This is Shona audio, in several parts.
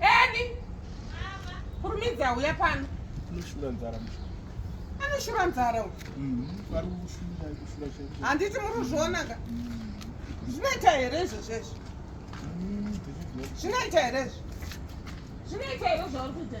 Eni. Kurumidza uya pano. Anoshura nzara mshu. Anoshura nzara uyu. Mhm. Vari kushura kushura chete. Handiti muri kuzviona ka? Mhm. Zvinoita here izvo zvesvo? Mhm. Zvinoita here izvo? Zvinoita here zvauri kuita?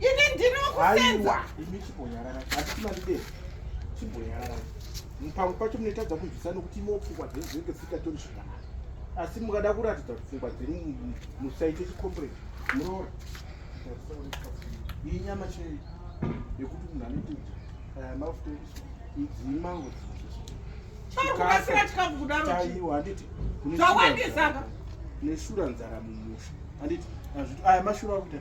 Ini ndinokusenza. Ini chibonyarara. Hatisimani dei. Chibonyarara. Pamwe pacho munoitadza kunzwisa nokuti imwe pfungwa dzenyu dzinenge dzisingatori zvakanaka. Asi mukada kuratidza kuti pfungwa dzenyu musaite chikombreni. Muroora. Iyi nyama chei yekuti munhu anoita kuti eh, mafuta ekuswa idzii mango dzinozosoaiwa neshura nzara mumusha handiti aya mashura akuita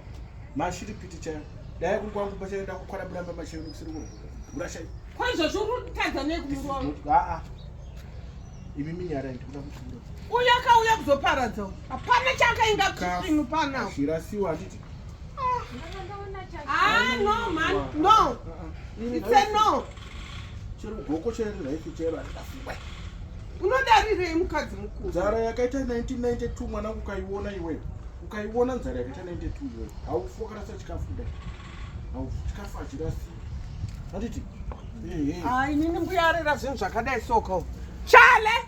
mashiripiti chayo dai kuri kwangu pachaenda kukwana buramba machero kusiri kugura chayo kwaizvozvi uri kutadza nei kumuroa aa imi minyarai ndikuda kuchiro uyo akauya kuzoparadza hapana chaakainga kusinu panao zvirasiwa handiti ah. ah no man no it's a no chero goko chero raifi chero handikafungwa unodarirei mukadzi mukuru nzara yakaita 1992 mwana ukaiona iweyo ukaiona nzara yakaita 92 iweyo haufi wakarasa chikafu kudai haufi chikafu hachirasi handiti inini mbuyarira zvinhu zvakadai soko chale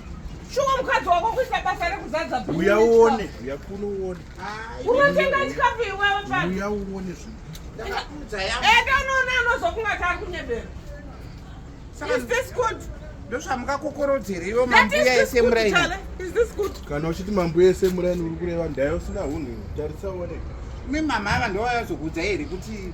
Shuwa mukadzi wako kuita basa rekuzadza bhini. Uya uone, uya kuno uone. Unotenga chikafu iwewe pa. Uya uone zvinhu. Ndakakudza yangu. Enda unoona anozokunga tari kunyebera. Is this good? ndozvamukakokorodzera ivo mambuya ese muraini kana uchiti mambuya ese muraini uri kureva ndayo usina hunhu tarisa uone mi mama ava ndovayazokudza here kuti